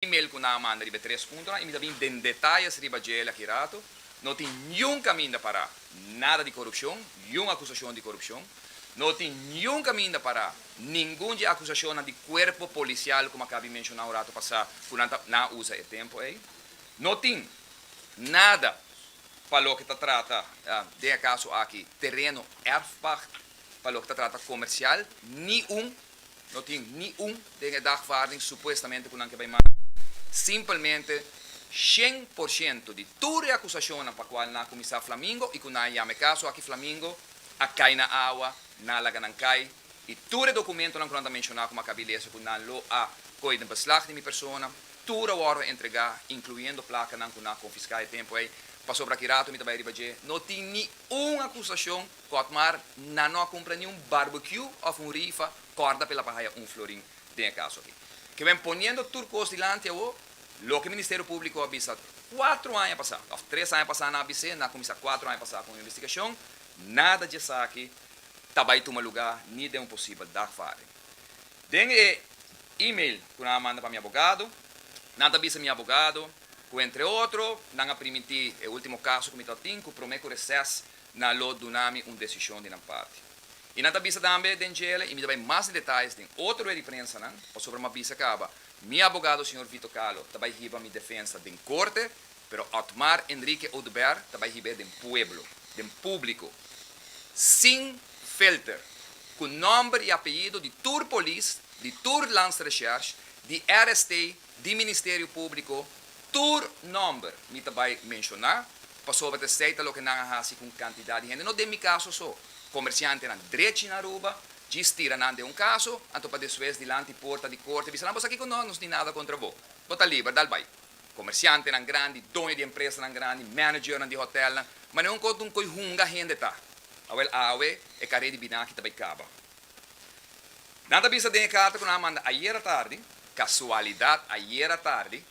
email ku nan a manda riba e tres puntonan i mi ta bin den detayes riba djel aki rato. No tin niun kaminda pará, nada di korupshon, niun akusashon di korupshon. No tin niun kaminda pará, ningun dje akusashonnan di kuerpo polisial komo akaba di menshoná un rato pasá ku nan ta nan a usa e tempu ei. No tin nada pa loke ta trata, den e kaso aki, tereno erfpacht, pa loke ta trata komersial, niun No tin ni un den e dagvaarding supuestamente cu nan ke bai manda. Simpelmente shen por shento di tur e acusacionnan pa cual nan a cuminsa Flamingo y cu nan a yama e caso aki Flamingo a cay na awa, nan a laga nan cay y tur e documentonan cu nan ta menciona cu Maccabi Leese cu nan lo a coy den beslag di mi persona, tur a wordo entrega, incluyendo placanan cu nan a confisca e tempo ey. Pasobra aki rato mi ta bai riba dje, no tin ni un acusacion. Kotmar, Nan no a kumpra ni un barbecue of un rifa korda pela pa haya un florin den e kaso aki. Kiben poniendo tur kos dilanti awo, loke Ministerio Publico a bisa kuatro aña pasa of tres aña pasa nan a bis'e, nan a kuminsá kuatro aña pasa ku un investigacion, nada dje saki ta bai tuma lugá ni den un posibel dagvaarding. Den e email ku nan a manda pa mi abogado, nan ta bisa mi abogado ku entre otro nan a primintí e ultimo kaso ku mi tabatin ku prome ku reses nan lo duna mi un desishon di nan parti. I nan ta bisa tambe den djele i mi ta bai mas di detayes den otro rueda di prensanan, pasobra mi a bisa kaba mi abogado señor Vito Kahlo ta bai hiba mi defensa den korte, pero Otmar Enrique Oduber ta bai hiba e den pueblo, den publiko, sin filter, ku nòmber i apellido di tur polis, di tur Landsrecherche, di RST di Ministerio Públiko tur nòmber mi ta bai menshoná pasobra t'esei ta loke nan a hasi ku un kantidat di hende, no den mi kaso so, komersiantenan drechi na Aruba, djis tira nan den un kaso, anto pa despues dilanti porta di korte bisa nan, Bo sa kiko? No, nos tin nada kontra bo. Bo ta liber, dal bai. Komersiantenan grandi, doño di empresanan grandi, managernan di hotèlnan, manera un kòntu un koi hunga hende ta. Awel awe e karé di binaki ta bai kaba. Nan ta bisa den e karta ku nan a manda ayer atardi, Kasualidat ayer atardi,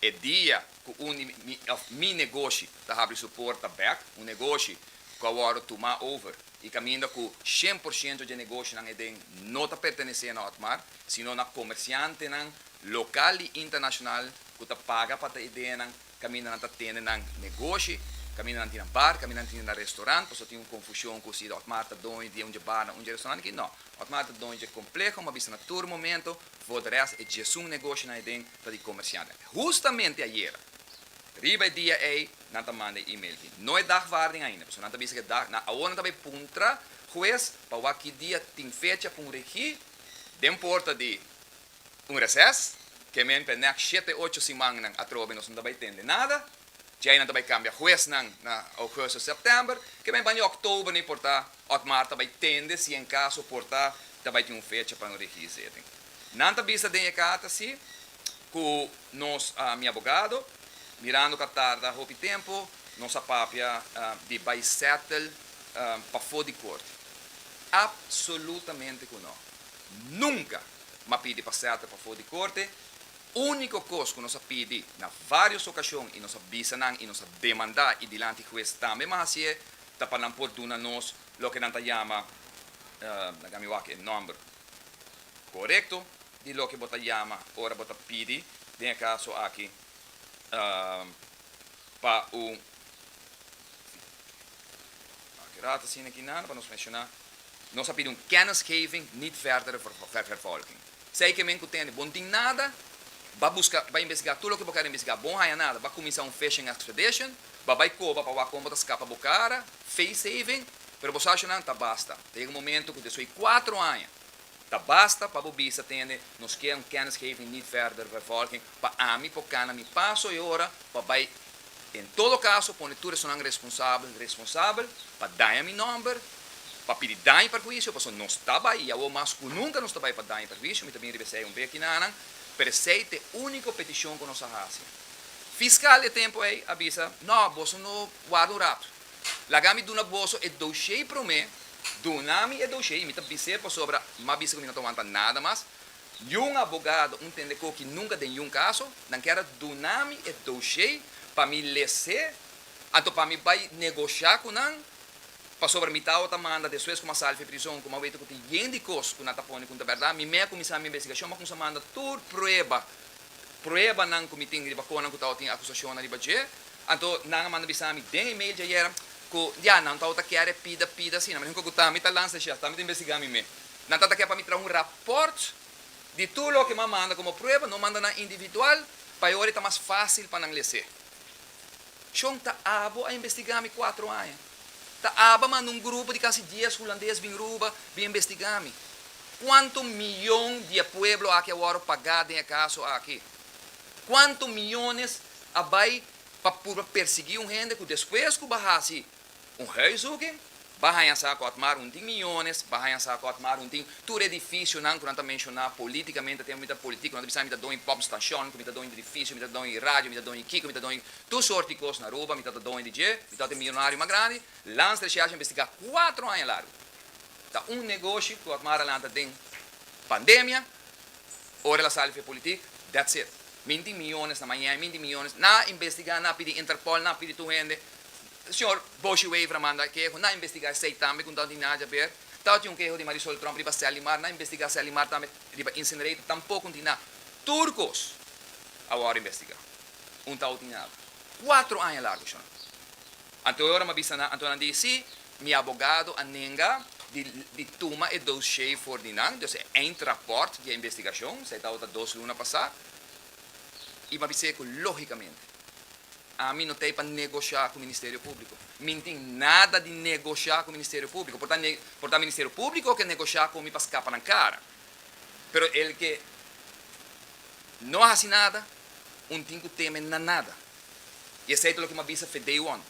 e dia ku un di mi, òf mi negoshi ta habri su porta bèk, un negoshi ku a wòrdu tumá over i kaminda ku shen por shento dje negoshinan heden no ta pertenesé na Otmar, sino na komersiantenan lokal i internashonal ku ta paga pa ta idenan Caminda nan ta tende nan negoshi, caminda nan tin nan bar, caminda nan tin nan restaurant, pasobra tin un confusion cu si Otmar ta doño di un dje bar na un dje restaurant aki, no. Otmar ta doño dje compleho, m'a bisa na tur momento, for de rest e djesun negoshinan ey den ta di comerciantnan. Hustamente ayera, riba e dia ey, nan ta manda e email aki. No e dagwaarding ainda, pasobra nan ta bisa cu e dag, nan, awor nan ta bay puntra hues pa wak ki dia tin fecha pa un regi den porta di. un reses, kemente nèk shete ocho simannan atrobe nos no ta bai tende nada, djei nan ta bai kambia huesnan na ougùsto, sèptèmber, kemente baña òktober ni por ta, òtmar ta bai tende si en kaso por ta ta bai tin un fecha pa no rigi izeten. Nan ta bisa den e karta si ku nos, mi abogado, mirando ku a tarda hopi tempu, nos a papia di bai sètel pafó di korte. Apsolutamente ku nò. Nunka! ma pidi pa sèlta pafó di korte. Úniko kos ku nos a pidi na vários okashon i nos a bisa nan i nos a demandá i dilanti hues tambe mas hasié ta pa nan por duna nos loke nan ta yama, laga mi wak e nòmber korekto di loke bo ta yama ora bo ta pidi, den e kaso aki, pa un Nos a pidi un kennisgeving, niet verdere vervolging. Sei ke men ku tende bon tin nada, ba buska, ba investigá tur loke bo kere investigá, bon haña nada, ba kuminsá un fishing expedition, ba bai koba pa wak kon bo ta skapa bo kara, face saving, pero bo sashonan ta basta. Ta yega un momentu ku desoi kuatro aña Ta basta pa bo bisa tende nos kier un kennisgeving niet verder vervolging pa ami por cana mi paso e ora pa bay en todo caso pone tur esonan responsabel responsabel pa daña mi nomber pa pidi daño y perhuicio pasobra nos ta bay y awo mas cu nunca nos ta bay pa daño y perhuicio mi ta bin riba esey un beki nanan pero esey ta e unico peticion cu nos a haci fiscal e tempo ey a bisa no boso no warda un rato. Laga mi duna boso e doshei promé, duna mi e doshei i mi ta bis'é pasobra m'a bisa ku mi no ta wanta nada mas. Niun abogado, un tende koki nunka den niun kaso, nan kèr a duna mi e doshei pa mi les'é, anto pa mi bai negosha ku nan, pasobra mi tau ta manda despues ku m'a sali for e prizon, ku m'a wete ku tin yen di kos ku nan ta pone ku no ta bèrdat, mi mei a kuminsá mi investigashon, m'a kuminsá manda tur prueba pruebanan ku mi tin riba konan ku tabata tin akusashonnan riba dje. Anto nan a manda bisa mi den e mail djayer ku ya nan tabata kere e pida pida asina. Mi dijo ku ta, mi ta lansa shel, ta mi ta investigá mi mes. Nan tabata kere pa mi traha un rapòrt di tur loke mi a manda komo prueba, no manda nan individual, pa e ora e ta mas fásil pa nan les'é. Shon ta abo a investigá mi kuatro aña. Ta aba manda un grupo di kasi dies hulandes bin ruba, bin embestigá mi. Kuantu mion di e pueblo aki a wòrdu pagá den e kaso aki? Kuantu miones a bai pa purba persiguí un hende ku despues ku ba hasi un huiszoeking ba haña sa ku Otmar Hunting miones ba haña sa ku Otmar Hunting tur edifisionan ku nan ta menshoná polítikamente te mi ta politiko nan ta bisa mi ta doño Bobm's Station ku mi ta doño di edifisio mi ta doño di radio mi ta doño di kiko mi ta doño di Tur sort di kos na Aruba, mi ta ta doño di dje, mi ta ta e millonario mas grandi, Lans Recherche a investigá kuatro aña largu. Ta un negoshi ku a mara lanta den pandemia, ora el a sali fe politik, that's it. Minti miyones na Miami, minti miyones, nan a investigá, nan a pidi Interpol, nan a pidi tur hende, señor Boshi Wever a manda e keho, nan a investigá esei tambe ku no tin nada di haber, tabatin un keho di Marisol Trump riba Sally Mar, nan a investigá Sally Mar tambe riba incinerator, tampoko no tin nada. Tur kos a wòrdu investigá. un tau tin aba. Kuatro aña largu shon. Anto e ora mi a bisa nan, anto nan di, Sí, mi abogado a nenga di di tuma e doshé for di nan, dus e eindrapport di e investigashon, esei tabata dos luna pasá. I mi a bis'é ku lógikamente ami no t'ei pa negoshá ku Ministerio Públiko. Mi n'tin nada di negoshá ku Ministerio Públiko. Por ta ne, por ta Ministerio Públiko ke negoshá ku mi pa skapa nan kara. Pero el ke no a hasi nada, un tin cu teme na nada. Y esey ta loke m'ha bisa fe day one.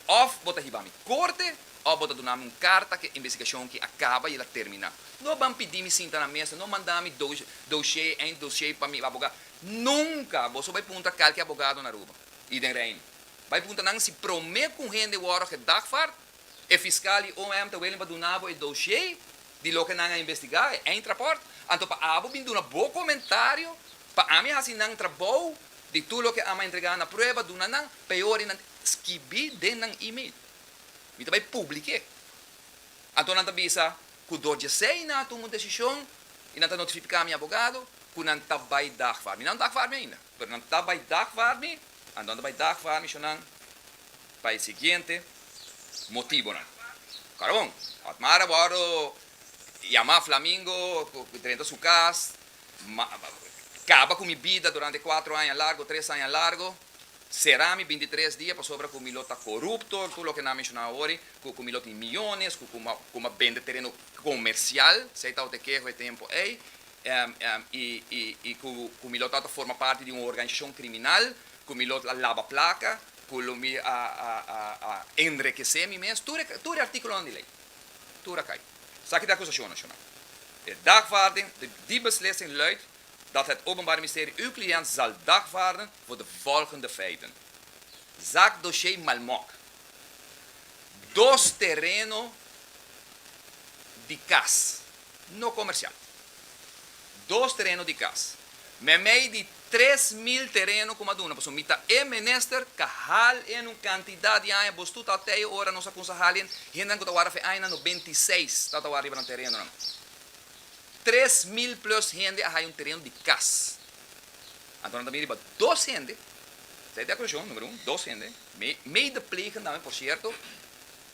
Of bo ta hibami corte of bo ta dunami un carta cu e investigacion ki a caba y el a termina. No ban pidimi sinta na mesa, no mandami doshey, einddoshey pa mi aboga. Nunca! Boso bay punta calke abogado na Aruba y den Reino. Bay punta nan si prome cu un hende worde gedagvaard E fiskal di OM ta willing pa duna bo e doshé di loke nan a investigá, e eindrapport, anto pa abo bin duna bo komentario pa ami hasi nan trabou di tur loke ami a entregá na prueba duna nan, peor i nan skibí den nan email. Mi ta bai publiké. Anto nan ta bisa ku dor djesei nan a tuma un desishon i nan ta notifiká mi abogado ku nan ta bai dagfar mi. Nan dagfar mi ainda. Pero nan ta bai dagvarmi, anto nan ta bai dagvarmi sho nan pa e siguiente motibonan. Karabon, Otmar a wòrdu yamá flamingo ku drenta su kas, kaba ku mi bida durante kuatro aña largu, tres aña largu, será mi bintitres dia pasobra ku mi lo ta korupto, tur loke nan a menshona awori, ku mi lo tin miyones, ku mi a bende tereno komersial, si ey tabata e keho e tempu ey, y cu mi lo ta forma parti di un organisacion criminal, cu mi lo a laba placa, cu lo mi a enrikece mi mes, tur e articulonan di ley, tur a cay. Sa ki ta e acusacion nacional. E dagvaarding, die beslissing luidt dat het Openbaar Mysterie uw cliënt zal dagvaarden voor de volgende feiten, Zaak Dossier Malmok, dos terreno di kas no komersial. Dos tereno di kas. Meimei di tres mil tereno ku maduna pasobra mi ta e minister ka hal en un kantidat di aña bos tutal te e ora nos a kunsa hal en. Hendenan ku ta wara fe añanan no beintiseis ta ta wara riba nan terenonan. Tres mil plus hende a haya un tereno di kas. Anto nan ta bini riba dos hende, sa e di acusacion, numero un, dos hende, mei de plegen tambe por cierto,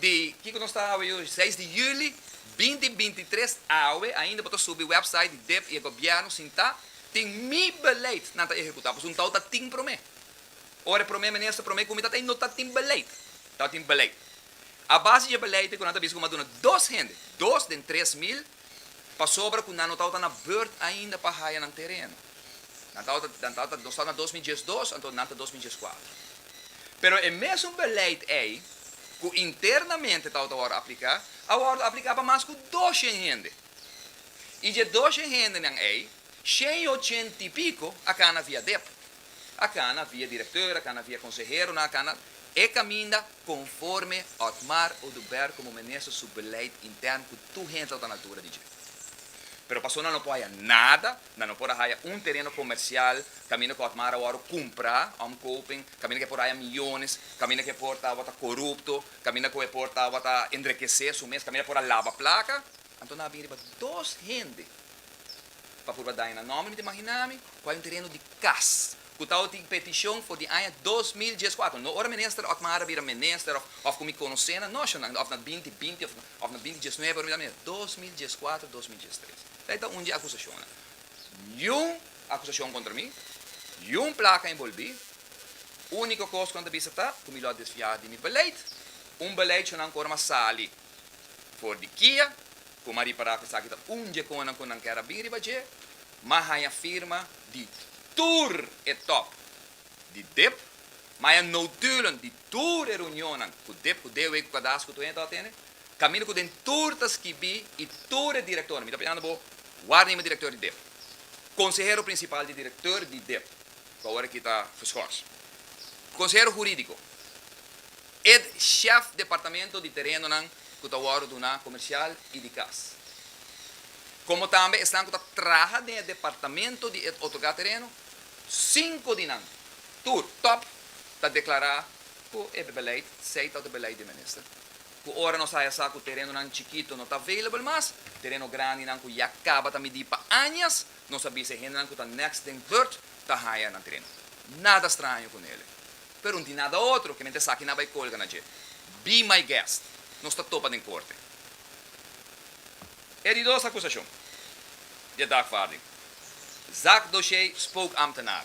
Di kiko nos ta awe yoshi? Seis di juli binti binti tres awe ainda bo ta subi website di dep i e gobièrnu sintá tin mi beleid nan ta ehekutá pasobra un tau ta tin promé ora e promé minister promé kumi ta ta i no ta tin beleid tau tin beleid a base dje beleid e ku nan ta bisa ku m'a duna dos hende dos den tres mil pasobra ku nan no tabata na bùrt ainda pa haya nan tereno. Nan tabata, nan tabata, nos ta na dos mi diesdos, anto nan ta dos mi dies kuater. Pero e mesun beleid ei ku internamente tabata wòrdu apliká, a wòrdu apliká pa mas ku doshen hende. I dje doshen hendenan ei, shen i ochenta i piko a kana via dep. A kana via direktor, a kana via konseheronan, a kana e kaminda. Conforme Otmar Oduber como Minister su beleid intern cu tur hende lo ta na altura di dje. Pero paso nan lo por haya nada, nan no por a haya un tereno comercial caminda cu Otmar a wou cumpra, omkoping, caminda cu e por haya millones, caminda cu e por ta wata corupto, caminda cu e por ta wata enrekece su mes, caminda por a laba placa, anto nan a bin riba dos hende pa purba daña nan nomber. Mi ta imaginami cu hay un tereno di cas. ku tawba tin petishon for di aña dos mil dies kuater, no ora minister Otmar a bira minister òf òf ku mi konosé nan, no, shon, òf na binti binti òf òf na binti dies nuebe ora mi ta mira, dos mil dies kuater, dos mil dies tres. Esei ta un di akusashonnan. Niun akusashon kontra mi, niun plaka enbolbí, úniko kos ku nan ta bisa ta ku mi lo a desfiá di mi beleid, un beleid shonnan ku ora mi a sali for di kia, ku mi a ripará ku esaki ta un dje konnan ku nan kèr a bin riba dje, ma haña firma di tur e top di dip, ma haña notulen di tur e reunionnan ku dip, ku DW ku Cadasco tur hende ta atende, kaminda ku den tur ta skibí i tur e direktornan. Mi ta pidinan bo wak riba e direktor di dip, konsehero prinsipal di direktor di dip, ku awor aki ta geschors, konsehero hurídiko. Ed shèf departamento di terenonan ku ta wòrdu duná komersial i di kas, komo tambe esnan ku ta traha den e departamento di ed otorgá tereno, sinku di nan tur, tòp, ta deklará ku e beleid Sei ta otro beleid di e minister, ku ora nos haya sa ku terenonan chikitu no ta available mas, tereno grandinan ku ya kaba ta midí pa añas, nos a bisa e hendenan ku ta nèks den bùrt ta haya nan tereno. Nada straño ku Nele. Pero n'tin nada otro, kimente esaki nan bai colga na dje. Be my guest. Nos ta topa den corte. E di dos acusacion di e dagvaarding. Zack Doshey spoke ambtenaar.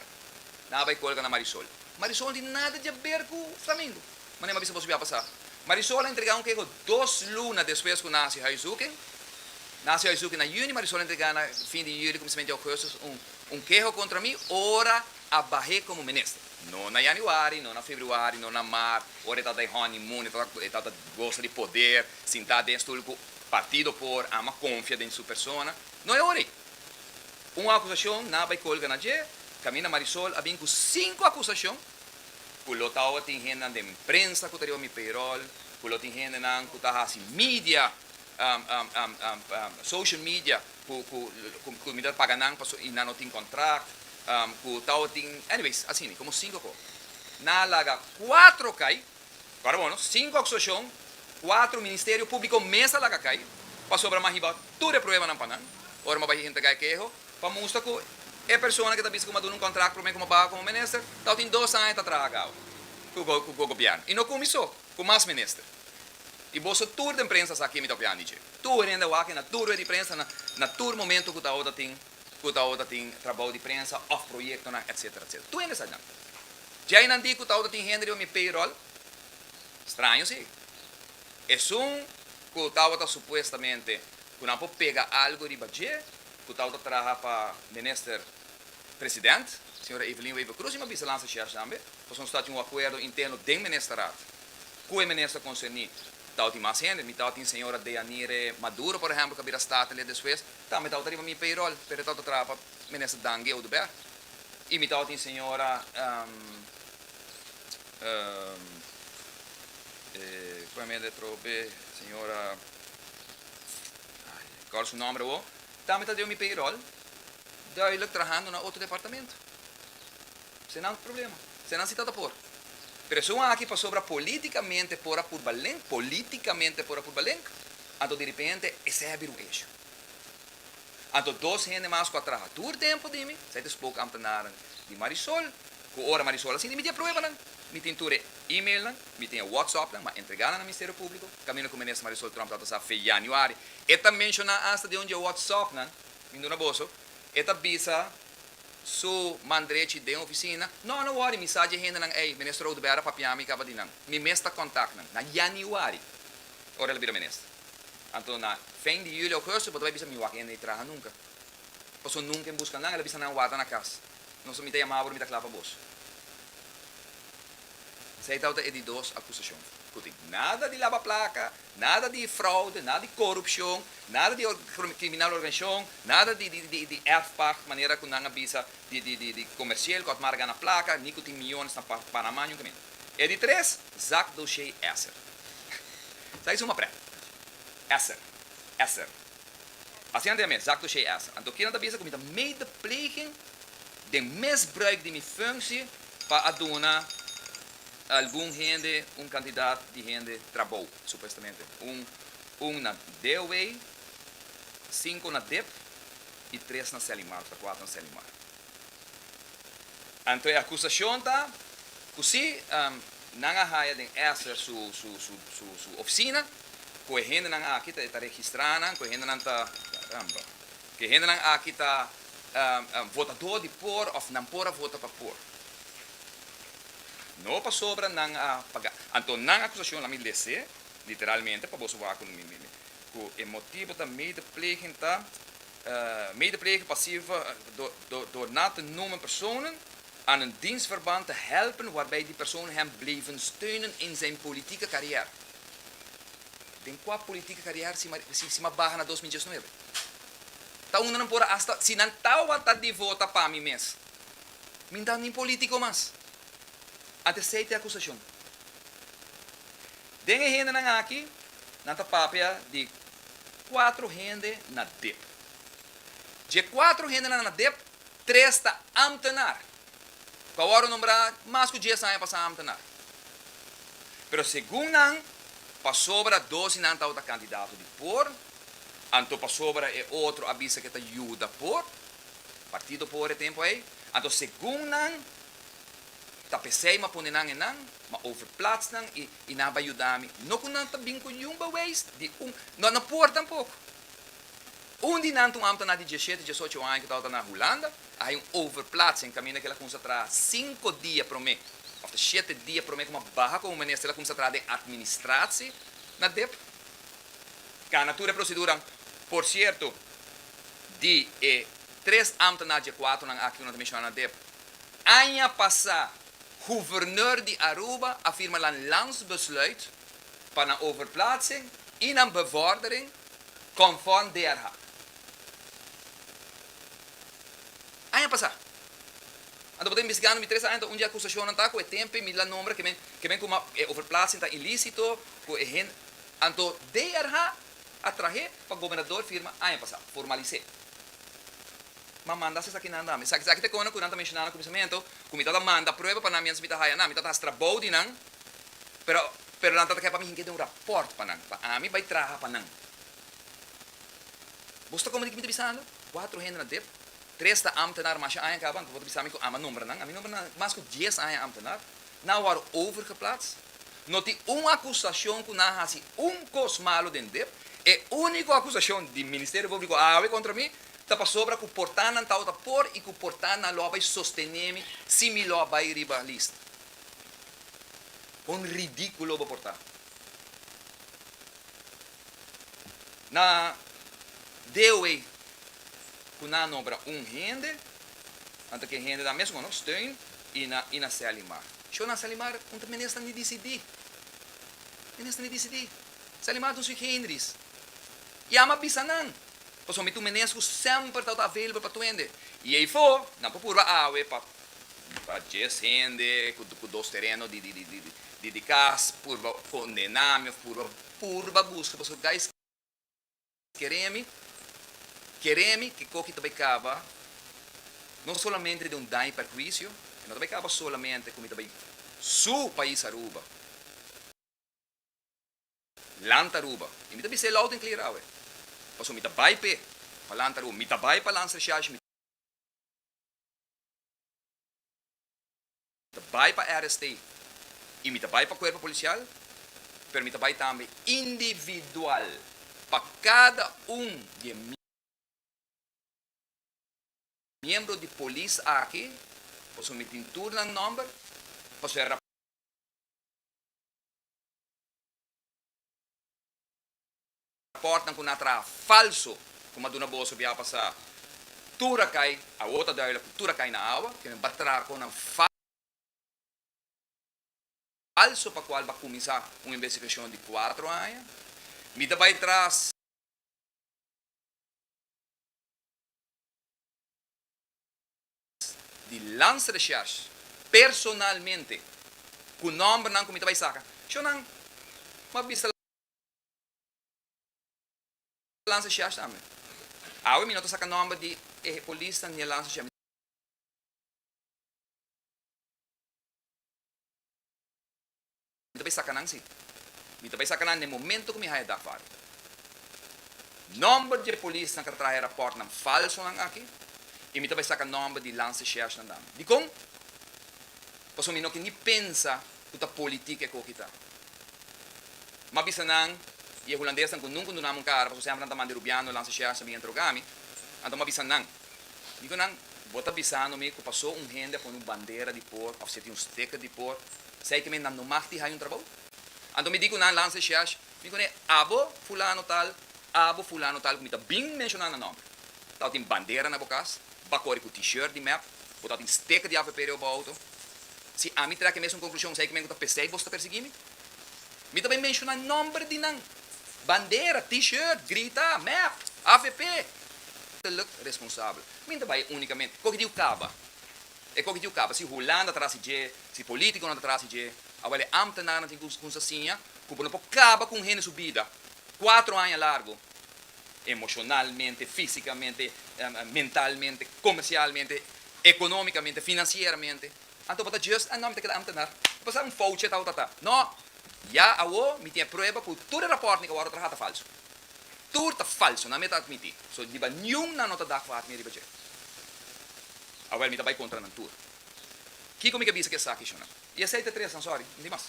Nan a bai colga na Marisol. Marisol n'tin nada djaber cu Flamingo. Mane m'abisa boso biaha pasa. Marisol a entrega un keho dos luna despues cu nan haci huiszoeking. Nan haci huiszoeking na juni, Marisol a entrega na fin di juli, cominsament di augustus un keho contra mi ora a bahe como minister. No na Januari, no na Februari, no na Maart, ora e tabata e honeymoon, e tabata e tabata gosa di poder sintá den e stul ku partido por ama konfia den su persona. No e ora ei. Un akusashon na bai kolga na dje, kaminda Marisol a bin ku sinku akusashon ku lo ta owa tin hendenan den prensa ku ta riba mi payroll, ku lo tin hendenan ku ta hasi media social media cu cu mi ta paga nan paso y nan no tin contract cu tao tin anyways asina como cinco co nan a laga cuatro cay ora bueno cinco acusacion cuatro ministerio publico mes a laga cay pasobra mi a hiba tur e prueba nan pa nan ora mi a bai henter gaya keho pa mustra cu e persona que ta bisa cu mi a duna un contract prome cu mi a baha como minister tao tin dos aña ta traha gao cu gobierno y no cu mi so cu mas minister. Y boso tur den prensa sa ke mi ta opiandi dje. Tur hende wak e na tur rued di prensa, na tur momento ku ta ora tin, ku ta ora tin trabou di prensa of proyektonan etsetera, etsetera. Tur hende sa djan. Dje einan di ku ta ora tin hende riba mi payroll, straño si. Esun ku ta ora supuestamente ku nan por pega algo riba dje, ku ta ora traha pa minister president, señora Evelyn Wever-Croes, y mi a bisa lansa shèrs tambe, pasobra nos ta tin un akuerdo interno den ministerat. Cu e Minister concerni tabatin mas hende. Mi tabatin Señora Deyanire Maduro, por ehempel, cu a bira Statenlid despues. Tambe tabata riba mi payroll, pero e tabata traha pa Minister Dange Oduber. Y mi tabatin Señora, con mi hende atrobe be, Señora, ay, acorda su nomber awo, tambe tabata riba mi payroll, duidelijk trahando na otro departamento. Senang problema. Senang si ta ta por. Presion aki pasobra politicamente por a purba link, politicamente por a purba link, anto di repente esey a bira un issue. Anto dos hende mas cu a traha tur tempo di mi, esey ta spoke ambtenaren di Marisol, cu ora Marisol a sinti mi tin e pruebanan, mi tin tur e emailnan, mi tin e whatsupnan, ma entreganan na Ministerio Publico, camino cu Minister Marisol Trump tabata sa fe Januari, e ta menciona hasta den un dje whatsupnan, mi duna boso, e ta bisa su man drechi den ofisina. No, no wori, mi sa dje hendenan ei. Minister Oduber a papia mi kaba di nan. Mi mes ta kontak nan. Na yanüari, ora el a bira minister. Anto na fin di yüli, ogustu, bo ta bai bisa mi wak hende traha nunka. Pasobra nunka en buska nan. El a bisa nan warda na kas. Nos mi ta yama bo ora mi ta kla pa bos. Esei tabata e di dos akusashon ku tin. Nada di laba plaka, Nada di fraude, nada di corupcion, nada di criminal organisacion, nada di erfpacht manera cu nan a bisa di comerciel cu a marca gana placa ni cu tin millones na Panama juntamente. E di tres, Zak Doshey Esser. Sa ki suma pret. Esser. Esser. Paciente ami, exacto shei esa. Anto kinan ta bisa cu mi ta medepleging den misbruik di mi functie pa a duna algun hende, un cantidad di hende trabou, supuestamente. Un un na DOW, cinco na dip y tres na Selimar, of ta cuatro na Selimar. Entre e acusacion ta cu si nan a haya den Esther su oficina cu e hendenan aki ta e ta registra nan, cu e hendenan ta, caramba, cu e hendenan aki ta votador di por of nan por a vota pa por. No pasobra nan a paga. Anto nan acusacion, lami lese literalmente pa boso wak cu e motibo ta medepleging ta Medepleging pasivo dor na te noemen personen aan een dienstverband te helpen waarbij die personen hem blijven steunen in zijn politieke carrière. Den cua politieke carrière si Maria si ma baha na dos mil diesnuebe? Ta unda nan por a hasta si nan ta wata di vota pa mi mes, mi nta nin politico mas. Ante esey te acusacion. Den e hendenan aki nan ta papia di kuatro hende na dep. Dje kuatro hendenan na dep, tres ta amtenar, ku a wòrdu nombrá mas ku dies aña pasá amtenar. Pero segun nan, pasobra dos di nan tabata kandidato di por, anto pasobra e otro a bisa ku e ta yuda por, partido por e tempu ei, anto segun nan, Ta pesey ma pone nan enan ma over plats nan y y nan a bay yuda mi. No cu nan ta bin cu yun bewees di un, no no por tampoco. Un di nan ta un am ta na di dieschete, diesocho aña cu tabata na Hulanda, a hay un over plats en caminda kel a cuminsa traha cinco dia prome of ta siete dia prome como a baha como minister el a cuminsa traha den administratie na dep cana tur e proceduran. Por cierto di e tres am ta na die cuatro nan aki cu nan ta menciona na dep Aña pasá Guverneur di Aruba a firma nan Landsbesluit pa nan overplaatsing i nan bevordering conform DRH. Aña pasá. Anto bo ta investigando mi tres aña ta un di acusacionnan ta cu e tempe mi la nombra que men cu map e overplaatsing ta ilicito cu e hende anto DRH a trahe pa Gobernador firma aña pasá, formalis'é. M'a manda sesakinan na mi. Sa, esaki ta e kona ku nan ta menshona na kuminsamentu, ku mi tabata manda prueba pa nan mientras mi ta haya nan. Mi tabata hasi trabou di nan, pero, pero nan tabata keda pa mi hinka den un rapòrt pa nan, pa ami bai traha pa nan. Boso ta komo di ke mi ta bisando? Kuatro hende na dep, tres ta ámtenar masha aña kaban, ku bo ta bisa mi ku ama nombra nan? Ami nombra nan mas ku dies aña ámtenar. Nan a wòrdu overgeplaatst. No tin un acusacion cu nan haci un cos malo den dep. E unico acusacion di Ministerio Publico awe contra mi ta pasobra cu porta nan tawata por y cu porta nan lo a bay sostene mi si mi lo a bay riba list. Con ridiculo bo porta. Na dewe ku nan nobra un hende, nan ta ke hende nan mesun a nos steun i na i na se animá. Sho nan se animá un ta minister ni disidí. Minister ni disidí. Se animá don Sui Heinrichs. Yama bisa nan. Pasobra mi ta un minister ku semper ta available pa tuende. I ei for nan por purba awe pa pa dies hende ku dos tereno di di di di kas purba kondená mi òf purba Puru ba buska boso guys keremi keremi ke koki ta bai kaba no solamente den un daño y perhuicio e no ta bai kaba solamente ku mi ta bai su pais Aruba land Aruba y mi ta bisa e loud and clear awe paso mi ta bai pe pa land Aruba mi ta bai pa land Srshasha mi Ta bai pa RST y mi ta bai pa cuerpo policial, pero mi ta bai tambe individual pa cada un di e miembro di polis aki, pasobra mi tin tur nan nomber, pasobra e Rapòrtnan ku na traha falso ku Maduna Boso bia pasa tura kai, awor ta duidelik ku tura kai na awa, ke men ba traha kon nan falso pa kual ba kuminsá un investigashon di kuatro aña. Mi ta bai tras. Di Landsrecherche personalmente ku nòmbernan ku mi ta bai saka. Shò nan, m'a bisa Lanza shèf tambe. Awe mi no ta saka nòmber di e polisnan ni e lanza shèf. Mi ta bai saka nan si. Mi ta bai saka nan den momento ku mi haya dag faro. Nòmber di e polisnan ku a traha e rapòrtnan falsonan aki i mi ta bai saka nòmber di lanza shèfnan tambe. Dikon? Pasobra mi no ke ni pensa cu ta politic e coh ki ta. M'a a bisa nan, y e hulandesnan cu nunca un duna mun cara, pasobra semper nan ta manda e rubiano lansa share sa bin entra rugami, anto m'a bisa nan, di cu nan, Bo ta bisando mi cu paso un hende a pone un bandera di por of si e tin un sticker di por, sai kimen nan no mag ti haya un trabou? Anto mi di cu nan lansa e share, mi cune abo fulano tal, abo fulano tal cu mi ta bin menciona nan nomber, ta bo tin bandera na bo cas? Ba kore ku T-shirt di mep. Bo ta tin steke di AVP riba bo outo. Si ami trek e mesun konklushon, esei ku mi ku ta p'esei boso ta persigi mi. Mi ta bai menshuna nòmber di nan. Bandera, T-shirt, grita, mep, AVP. Ta luk responsabel. Mi ta bai únikamente. Koke di yu kaba? E koke di yu kaba. Si Hulanda ta trasi dje, si polítikonan ta trasi dje, awor e ámtenarnan tin ku kunsa siña ku bo no por kaba ku un hende su bida kuatro aña largu Emocionalmente, fisicamente, mentalmente, comercialmente, economicamente, financieramente. Anto bo ta just, ah no, mi ta keda ambtenaar. A pesar un fouche ta u ta ta. No! Ya awo mi tin e prueba cu tur e raportnan cu awor ta traha ta falso. Tur ta falso, nan mi a ta admiti. So riba niun nan no ta da kuat mi riba dje. Awel mi ta bay contra nan tur. Kico mi ke bisa cu esaki, Shonnan? Y esei ta tres nan, sorry, no tin mas.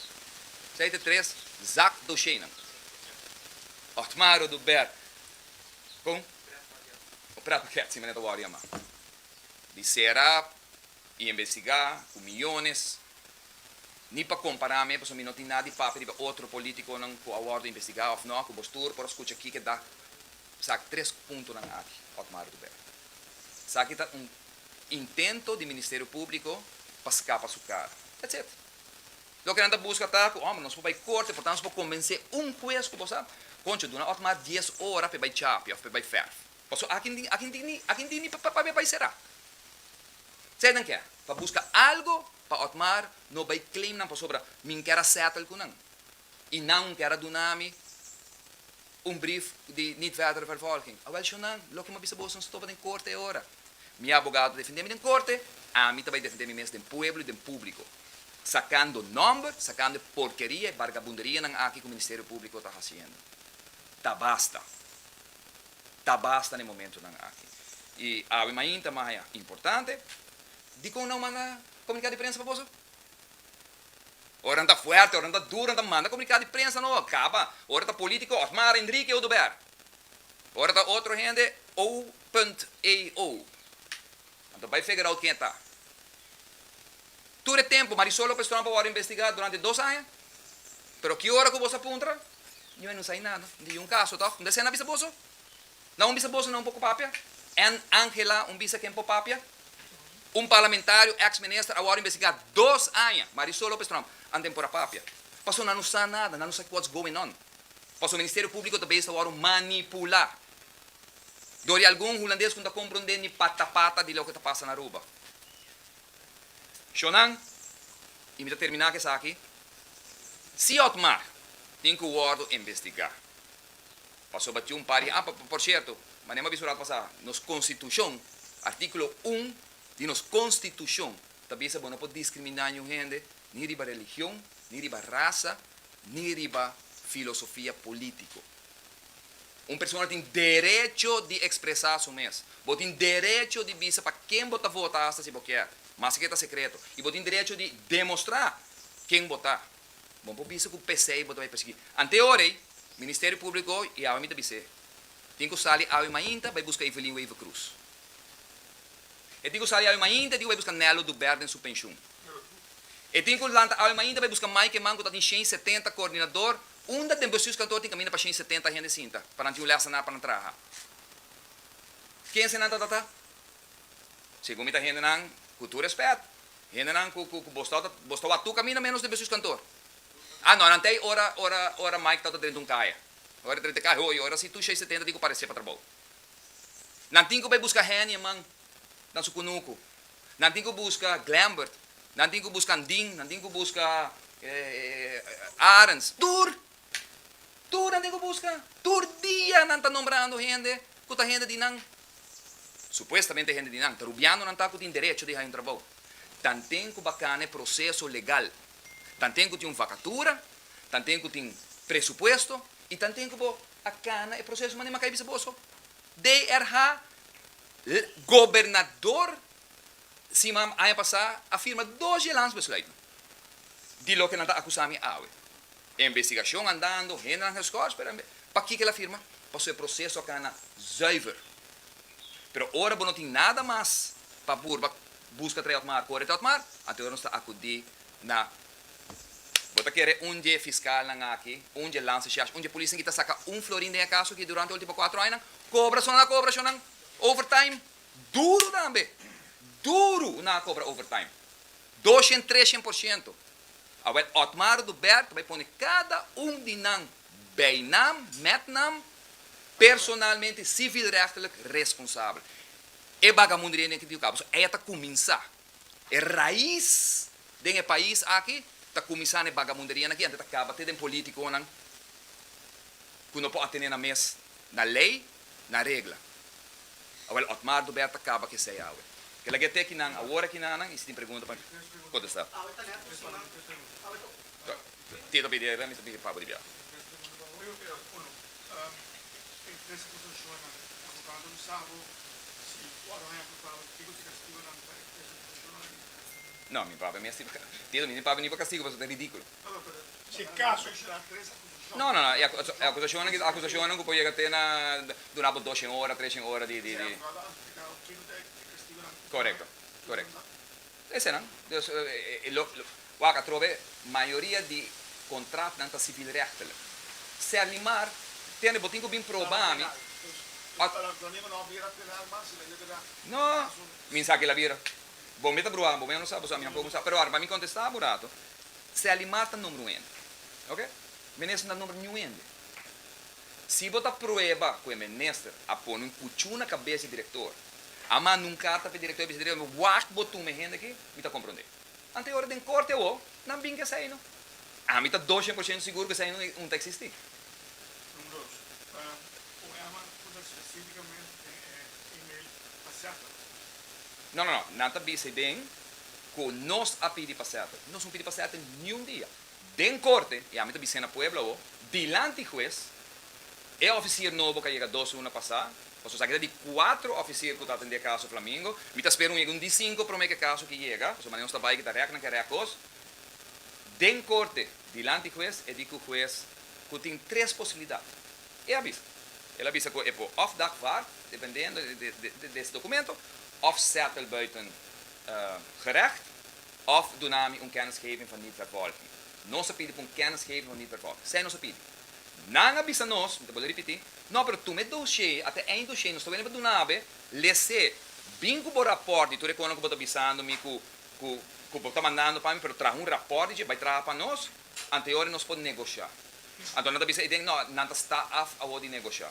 Esei ta tres zak dosheinan. Otmar o Dubert, con? Tres paket. O tres paket, si, mane ta worry ama. Di serap, y investigá, cu miyones. Ni pa compará me, pasobra mi no tin nada di papia riba otro politiconan cu a wordo investigá of no, cu bos tur por a scucha kico e da. Sa tres puntonan aki, Otmar o Dubert. Sa aki ta un. intento di Ministerio Públiko pa skapa su kara. That's it. Loke nan ta buska ta ku, Homber, nos por bai korte, por tanto nos por kombensé un hues ku bo sa, Koncho, duna Otmar dies ora pa e bai chapi òf pa e bai fèrf. Pasobra aki n'tin, aki n'tin ni, aki n'tin ni pa, pa e bai será. Sa e nan kè? Pa buska algu pa Otmar no bai claim nan pasobra mi n'ker a settle ku nan. Y nan te a duna mi un brief di niet verdere vervolging. Awel sho nan, loke mi a bisa bo so stop den corte e ora. Mi abogado defende mi den corte, ami ta bay defende mi mes den pueblo y den publico. Sacando nomber, sacando e porkeria, e bargabunderianan aki cu Ministerio Publico ta haciendo. Ta basta. Ta basta na e momentonan aki. Y awe mainta, maya, importante. Dicon nan manda comunicado di prensa pa boso? Ora nan ta fuerte, ora nan ta duro, nan ta manda comunicado di prensa no a caba. Ora ta politico Osmar, Enrique, Oduber. Ora ta otro hende O.AO. Nan ta bay feger out ken e ta. Tur e tempo Marisol Lopez Tromp a worde investiga durante dos aña, pero ki ora cu boso a puntra, niuwe no sai nada. Niun caso toh. Mester nan bisa boso. Na un bisa boso nan un poko papia? N. Angela, un bisa ken por papia? Un parlamentario, ex minister, a wòrdu investigá dos aña, Marisol Lopez Tromp, anten por a papia. Pasobra nan no sa nada, nan no sa what's going on. Pasobra Ministerio Públiko ta besta wòrdu manipulá dor di algun hulandes ku no ta komprondé ni pata pata di loke ta pasa na Aruba. Shownan, i mi ta terminá ku esaki, si Otmar tin ku wòrdu investigá. Pasobra tin un par di an, por sierto, manera mi a bisa ora pasá, nos Konstitushon, artíkulo un di nos Konstitushon ta bisa bo no por diskriminá niun hende ni riba religion, ni riba rasa, ni riba filosofia polítiko. Un persona tin derecho di ekspresá su mes. Bo tin derecho di bisa pa ken bo ta vota asta si bo kier, maske ta sekreto, i bo tin derecho di demostrá ken bo ta. Bo por bisa cu p'esey bo ta bay persegui. Ante ora ey, Ministerio Publico y awe mi ta bis'é, tin cu sali awe mainta bay busca Evelyn Wever Cruz. E tin cu sali awe mainta, e tin cu bay busca Nello Dubert den su pensioen. E tin cu lanta awe mainta bay busca Mike Eman cu ta tin shen setenta coordinador, unda den Bestuurs Kantoor tin caminda pa shen setenta hende sinta pa nan tin un les ta na pa nan traha. Kense nan ta tata? Segun mi ta hendenan ku tur respet, hendenan ku ku bos ta bos ta wak tur kaminda menos riba sus kantor. Ah no, nan ta ei ora ora ora Mike ta ta drenta un kaya. Ora e drenta kaya, oye ora si tur shei setenta tin ku parese pa trabou. Nan tin ku bai buska Henny e man na su kunuku. Nan tin ku buska Glembert, nan tin ku buska Andin, nan tin ku buska Arens, tur! Tur nan tin ku buska. Tur dia nan ta nombrando hende ku ta hende di nan Supuestamente hende di nan ta rubiano nan ta ku tin derecho di haña un trabou. Tanten ku bakana e proseso legal. Tanten ku tin un vakatura, tanten ku tin presupuesto i tanten ku bo a kana e proseso manera mi a kai bisa bo so. DRH, L, Gobernador Siman aña pasá a firma dos dje landsbesluitnan di loke nan ta akusá mi awe. E investigashon andando, hendenan geskòrs, pero enbe pakiko el a firma? Pasobra e proseso a kana zùiver. Pero ora bo no tin nada mas pa purba buska trae Otmar, kore trae Otmar, anto nos ta akudí na Bo ta kere un dje fiskalnan aki, un dje landsashas, un dje polisnan ki ta saka un florin den e kaso aki durante e último kuatro añanan? Kobra so nan a kobra shonnan overtime? Duru tambe, duru nan a cobra overtime. Doshent, treshent por ciento. Awel Otmar do Bert bay pone cada un di nan bijnaam, met naam, personalmente civielrechtelijk responsabel. E bagamunderia den Quintio Cabo so ey a ta cuminsa. E raiz den e pais aki ta cuminsa na e bagamunderia aki ante ta caba te den politiconan cu no por atene nan mes na ley. na regla. Awel Otmar do Berta kaba ke sei awe. Ke lag'e te kinan awor aki nannan i si tin pregunta pa kontesta. Awe ta neto siman awe ta ocu. Ti ta pidi awe mi ta pidi pabo di biaha. No mi papia mi a stiba. Ti ta bini mi papia ni pa kastigo paso ta ridikulo. No, no, no, e akusashonnan ki ta akusashonnan ku por yega te na duna bo doshen ora, treshen ora di, di, di. Korekto, korekto. Esenan. Dus, lo, lo, wak atrobe mayoria di kontratnan ta sivilrechtelijk. Ser mi mar, tende bo tin ku bin proba mi. No, mi sa kila bira. Bo mi ta bruha, bo mi a no sa, bo sa mi tampoco no sa. Pero ahora pa mi kontesta bo rato, Sally Mar ta number un hende. Ok. Minister no ta number niun hende. Si bo ta prueba ku e minister a pone un kuchu na kabes di direktor, a manda un karta pa e direktor, a bisa e direktor, wak bo tuma e hende aki, mi ta komprondé. Anto ora den korte awor, nan bin ku esei no. Ami ta dos cien por ciento sigur ku esei no un ta eksistí. Don Roos, pa un herman punta spesífikamente den e email, ta serto? No, no, no. Nan ta bisa den cu nos a pidi pa sete. Nos no pidi pa sete niun dia. Den corte, y ami ta bis'é na Puebla awo, dilanti hues, e oficier nobo cu a yega dos luna pasá, pasobra esaki ta di cuatro oficier cu ta atendé caso Flamingo, mi ta spera un yega un di cinco prome cu e caso aki yega, pasobra manera nos ta bay cu ta rek nan cu e rek cos. Den corte, dilanti hues, e di cu hues cu tin tres posibilidad. E a bisa. El a bisa cu e por of dagvaard, dependendo des documento, of settle buiten gerecht of duna mi un kennisgeving van niet verborgen. Nos a pidi pa un kennisgeving van niet verborgen. Esei nos a pidi. Nan a bisa nos, mi ta bole ripiti, No, pero tuma e doshé, ata e doshé, nos ta wene pa duna abe, lese, bin ku bo raport di tur e konan ku bo ta bisando mi ku ku bo ta mandando pa mi, pero traha un raport di dje, bai traha pa nos, anteor di nos por negosha. Anto nan ta bisa, i den, No, nan ta sta af awor di negosha.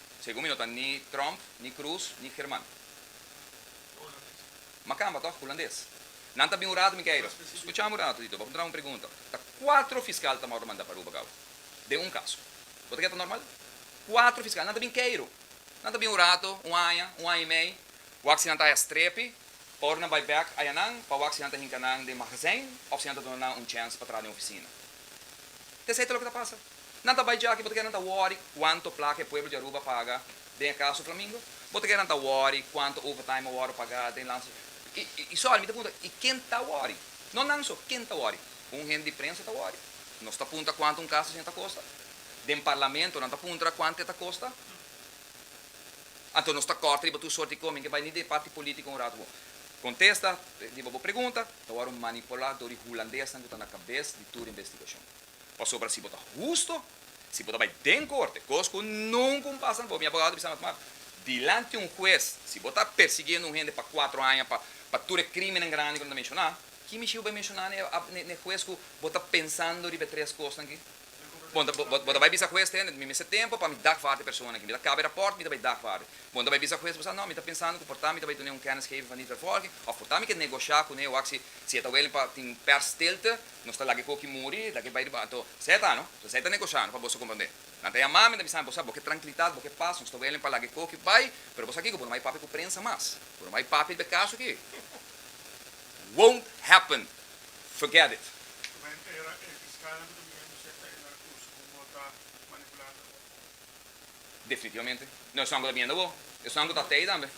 Segun mi no ta ni Trump, ni Cruz, ni German. Ma camba toch, Hulandes. Nan ta bin un rato mi Cairo. Scucha mi un rato, Tito, bo a puntra mi un pregunta. Ta cuatro fiscal ta mor manda pa Aruba gauw, den un caso. Bo ta keda ta normal? Cuatro fiscal, nan ta bin Cairo. Nan ta bin un rato, un aña, un aña y mei, wak si nan ta haya strepi, pa ora nan bay bek aya nan, pa wak si nan ta hinca nan den magazijn of si nan ta duna nan un chance pa tra den oficina. Tezay ta loke ta pasa. Nan ta bai djaki, bo ta keda nan ta worry cuanto placa e pueblo di Aruba paga den e caso Flamingo? Bo ta keda nan ta worry cuanto overtime a worde paga den lanza? Y sorry, mi ta punta, y ken ta worry? No nan so, ken ta worry? Un hende di prensa ta worry, nos ta puntra cuanto un casa asina ta costa, den Parlamento nan ta puntra cuanto e ta costa, anto nos ta corta riba tur soort di comen ke bai ni den e parti politico un rato. Contesta riba bo pregunta, ta worry un manipulador di hulandesnan cu ta na cabes di tur investigacion. Pasobra si bo ta husto, si bo ta bai den korte, kos ku nunka un pasa na bobi, mi abogado ta bisa mi, Mark, dilanti un hues, si bo ta persigiendo un hende pa kuatro aña pa tur e krímennan grandi ku nan ta menshoná, ki mishi bo bai menshoná n'e hues ku bo ta pensando riba e tres kosnan akí? Bon, bo ta bai bisa hues, Tenet, mi mester tempu pa mi dagvaard e persona akí. Mi ta kaba e rapòrt, mi ta bai dagvaard e. Bon, ta bai bisa hues, bo sa, No, mi ta pensando ku por ta mi ta bai dun'é un kennisgeving van niet vervolging òf por ta mi ke negoshá kuné wak si e ta wèlling pa tin un persstilte Nos ta laga e koki muri, e dake bai riba anto Seth a no. So Seth ta negoshá no pa boso komprondé. Nan ta yamami en ta bisami, bo sa bo ke trankilitat, bo ke pas, nos ta welen pa laga e koki bai, pero bo sa kiko, bo no bai papia ku prensa mas. Bo no bai papia riba e kaso aki. Won't happen. Forget it. Kumente era e fiskalnan ku ta bini anto Seth ta henda akusha ku bo ta manipulá anto bo? Definitivamente. No esun ku ta bienda bo. Esun ku ta tei tambe.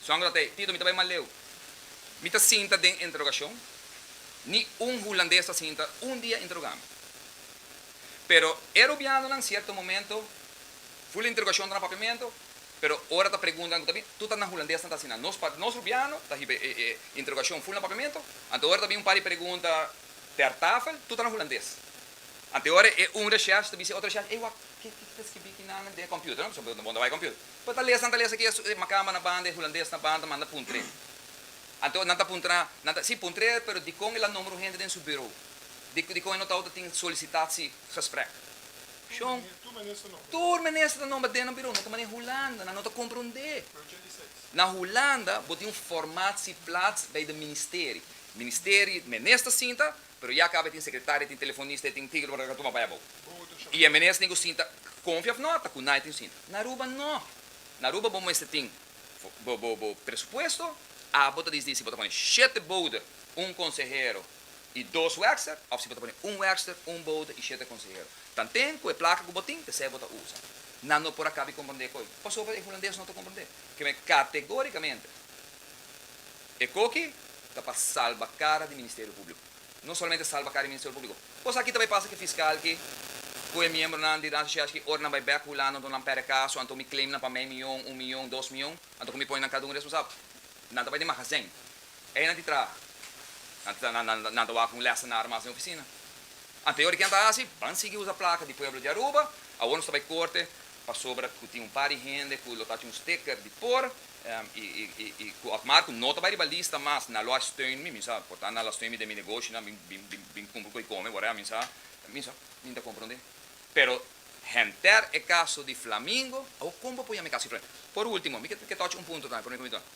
Esun ku ta tei. Tito, mi ta bai mas leu. Mi ta sinta den interogashon. Ni un hulandes ta sinta un dia interogá mi. Pero e rubianonan sierto momento ful interogashon ta na papiamento, pero ora ta preguntanan ku ta bin, tur ta nan hulandesnan ta asina. Nos pa nos rubiano ta hiba e interogashon ful na papiamento, anto ora ta bin un par di pregunta ter tafel, tur ta na hulandes. Anto ora e un rechef ta bisa e otro rechef, Ey, wak, ke ke ta skibí kinan den e computer? No? Pasobra bo no bai computer. Pero ta lesa, nan ta lesa kia su, e Makamba na banda, e Hulandes na banda ta manda puntr'é. Anto nan ta puntra, nan ta, sí, puntr'é, pero dikon el a nombra un hende den su bureau? Di, dikon e notau ta tin solicitatie gesprek? Shon, tur minister ta nombra den nan bureau, net manera Hulanda, nan no ta komprondé. Na Hulanda bo tin un formatie plaats bij de ministerie. Ministerie, minister sinta, Pero ya caba e tin secretaria, e tin telefonista, e tin tigre por a tuma pa e abou. Y e menes tin cu sinta, confia of no, ta cu nadie tin sinta. Na Aruba no. Na Aruba bo mester tin bo bo bo presupuesto, abo ta disdi si bo ta pone shete bouder, un consehero y dos werkster, of si bo ta pone un werkster, un bouder y shete consehero. Tanten cu e placa cu bo tin, p'esey bo ta usa. Nan no por a caba y comprende e coy. Pasobra e Hulandes no ta comprende. Keme categoricamente. E koki ta pa salba kara di Ministerio Públiko. No solamente salba kara di Ministerio Públiko. Kos aki ta bai pasa ku e fiskal ki ku e miembronan di Rancho Chefs ki ora nan bai bèk hulando anto nan pèrdè kaso, anto mi claimnan pa mei miyon, un miyon, dos miyon, anto ku mi pone nan kada un responsabel. Nan ta bai den magazèn. Ei nan di traha. Nan ta wak un lèsenar mas den ofisina. Anterior di kian ta hasi, ban sigui usa plaka di pueblo di Aruba. Awor nos ta bai korte pasobra ku tin un par di hende ku lo ta haci un sticker di por i ku Otmar ku no ta bai riba lista mas na lo a steun mi, mi sa, por tantu nan lo a steun mi den mi negoshinan, mi bin bin bin kumpru ku e kome por e, mi sa, mi sa, mi ta komprondé. Pero henter e kaso di Flamingo, awo kon bo por yama e kaso di Flamingo? Por último, mi ke tochi un punto tambe for mi kominta nan.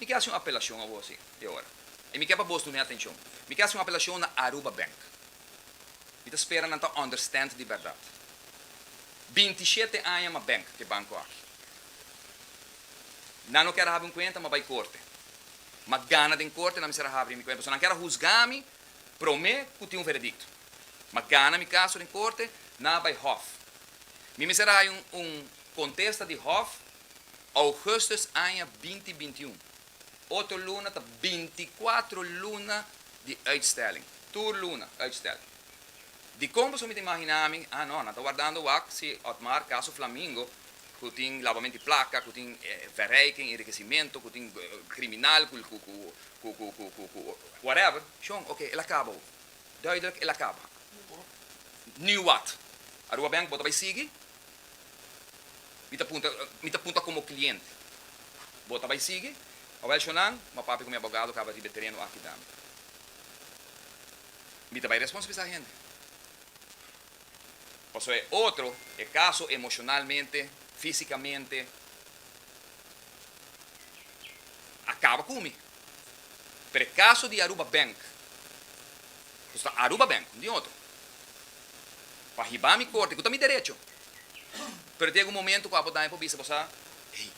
Mi ke hasi un apelashon awo si e ora, i mi ke pa bos duna e atenshon. Mi ke hasi un apelashon na Aruba Bank. Mi ta spera nan ta understand di bèrdat. Binti shete aña mas bank ke banko aki. Nan no kier habri un cuenta ma bai corte. Ma gana den corte nan mester a habri mi cuenta. So nan kier a husga mi prome cu tin un veredicto. Ma gana mi caso den corte nan a bai hof. Mi mester a hay un un contesta di hof augustus aña binti binti un. Otro luna ta binti cuatro luna di uitstelling. Tur luna uitstelling. Dikon pasobra mi ta imaginá mi, ah no, nan ta wardando wak si Otmar ka su flamingo ku tin labamento di plaka, ku tin verrijking, enrikesimentu, ku tin kriminal, ku, ku, ku, ku, ku, ku, ku, ku, whatever, shon, oké, el a kaba ho. Duidelijk, el a kaba. Nu wàt? Aruba Bank bo ta bai sigui? Mi ta punta, mi ta punta komo kliente. Bo ta bai sigui? Awèl, shonnan, m'a papia ku mi abogado kaba riba e tereno aki dam. Mi ta bai responsabilisa hende. Pasobra e otro, e kaso emoshonalmente, físikamente, a kaba ku mi. Pero e kaso di Aruba Bank, ku ta Aruba Bank, no tin otro, pa hiba mi korte, ku ta mi derecho, pero ta yega un momento ku abo daña pa bo bisa, bo sa, Ei,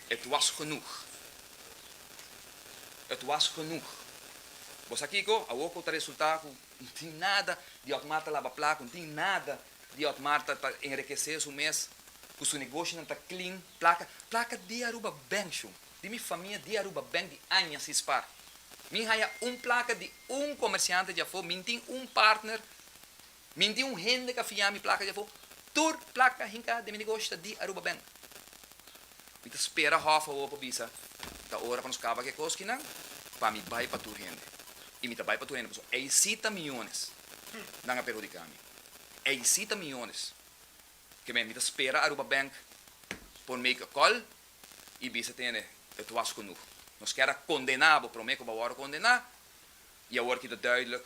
et was genoeg. Et was genoeg. Bo sa kiko? Awor ku ta resultá ku no tin nada di Ot Marta laba plat, ku no tin nada di Ot Marta ta enrikesé su mes, ku su negoshonan ta klin, plaka, plaka di Aruba Bank shon, di mi famia di Aruba Bank di aña si spar. Mi haya un plaka di un komersiante dja afó, mi no tin un partner Minti un hende ka fia mi plaka dje afó. Tur plaka hinká den mi negoshta di Aruba Bank. Mi ta spera hòf awor pa bisa ta ora pa nos kaba ku e koskinan pa mi bai pa tur hende. I mi ta bai pa tur hende pasobra ei sí ta miónes nan a perhudiká mi. Ei sí ta miónes. Kemey mi ta spera Aruba Bank por make a call i bisa te hende et was genoeg. Nos kèra kondená bo promé ku bo awor a kondená i awor kita duidelijk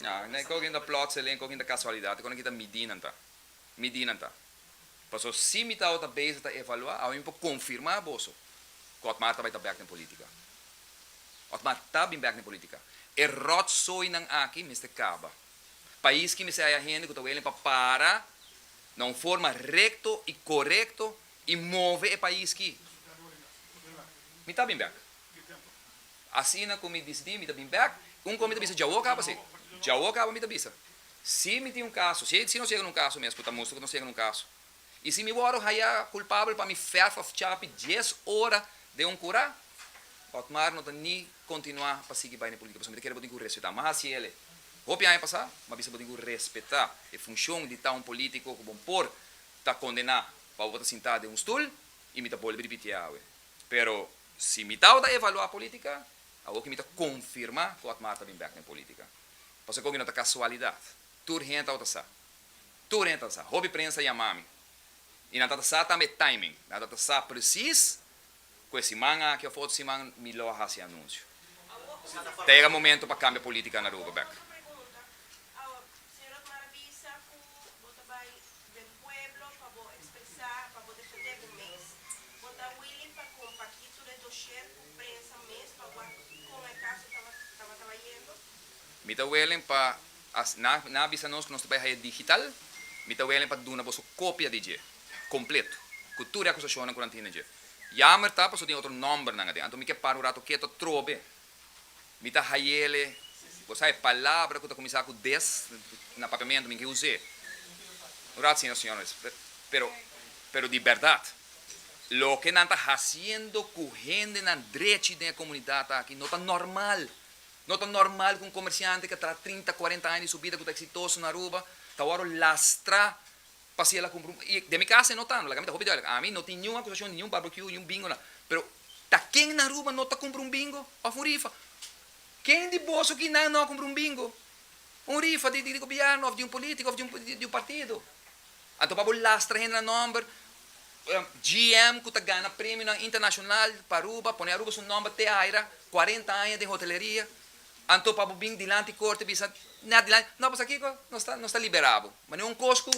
Nan kokin ta plotseling, kokin ta kasualidat, e kon nan kita midí nan ta. Midí nan ta. Paso si mi tawata ta bezi ta evaluá, awe mi por konfirmá boso ku Otmar ta bai ta bèk den politika. Otmar ta bin bèk den politika. E ròtsoinan aki mester kaba. Pais ki mester haya hende ku ta welen pa para na un forma rekto i korekto i move e pais ki mi ta bin bèk. Asina ku mi disidi mi ta bin bèk. Un kos mi ta bisa, dja o kaba si. Dja o kaba mi ta bisa. Si mi tin un kaso, si si nos yega na un kaso mes ku ta mustra ku nos yega na un kaso, i si mi wòrdu haya kulpabel pa mi fèf òf chapi dies ora den un kura, Otmar no ta ni kontinuá pa sigui bai na e politika pasobra mi ta kere bo tin ku respetá. Mas hasi el e. Hopi aña pasá, mi a bisa bo tin ku respetá e funshon di ta un polítiko ku bon por ta kondená pa bo ta sintá den un stul i mi ta bolbe ripitié awe. Pero. Si mi tabata evaluá polítika, awor ki mi ta konfirmá ku Otmar ta bin bèk den polítika. Pasobra ku mi no ta kasualidat. Tur hende tabata sa. Tur hende tabata sa. Hopi prensa yamá mi. I nan tabata sa tambe e timing. Nan tabata sa presis ku e siman aki òf otro siman mi lo a hasi anunsio. Ta yega momentu pa kambia polítika na Aruba bèk. Den pueblo pa bo expresa, pa bo defende bo mes. Bo ta willing pa compaki tur e doshier cu prensa mes pa wak con e caso tabata bayendo? Mi ta willing pa, as nan a bisa nos cu nos ta bay haya digital, mi ta willing pa duna boso copia di dje, completo, cu tur e acusacionnan cu nan tin na dje. Jammer ta paso tin otro nombernan aden, anto mi ke para un rato keto atrobe Mi ta hayele. Bo sa e palabra ku ta kuminsá ku des na papiamentu mi ke us'é un rat sina Señor mes. Pero pero di bèrdat loke nan ta hasiendo ku hendenan drechi den e komunidat aki no ta nòrmal. No ta nòrmal ku un komersiante ke a traha trinta, kuarenta aña di su bida ku ta eksitoso na Aruba ta wòrdu lastrá Pa si el a cumpri un, y den mi casa e no tando, like ami ta hopi duidelijk, ami no tin niun acusacion di niun barbecue, niun bingo nan, pero ta ken na Aruba no ta cumpri un bingo of un rifa? Ken di boso aki nan no a cumpri un bingo, un rifa di di gobierno of di un politico of di un di un partido? Anto pa bo lastra hende nan nomber, GM cu ta gana premionan internacional pa Aruba, pone Aruba su nomber te aira, cuarenta aña den hoteleria, Anto pa bo bin dilanti korte bisa na dilanti, no pasobra kiko? Nos ta nos ta liberá bo. Ma den un kos ku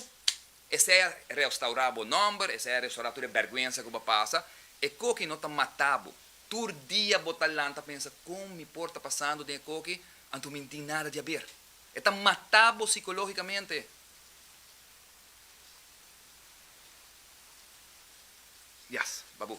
e sea restaurá bo nòmber, e sea restaurá tur e bèrgwensa ku bo a pasa, e koki no ta matá bo. Tur dia bo ta lanta pensa, kon mi por ta pasando den e koki, anto mi n'tin nada di haber? E ta matá bo sikológikamente. Yas, babú.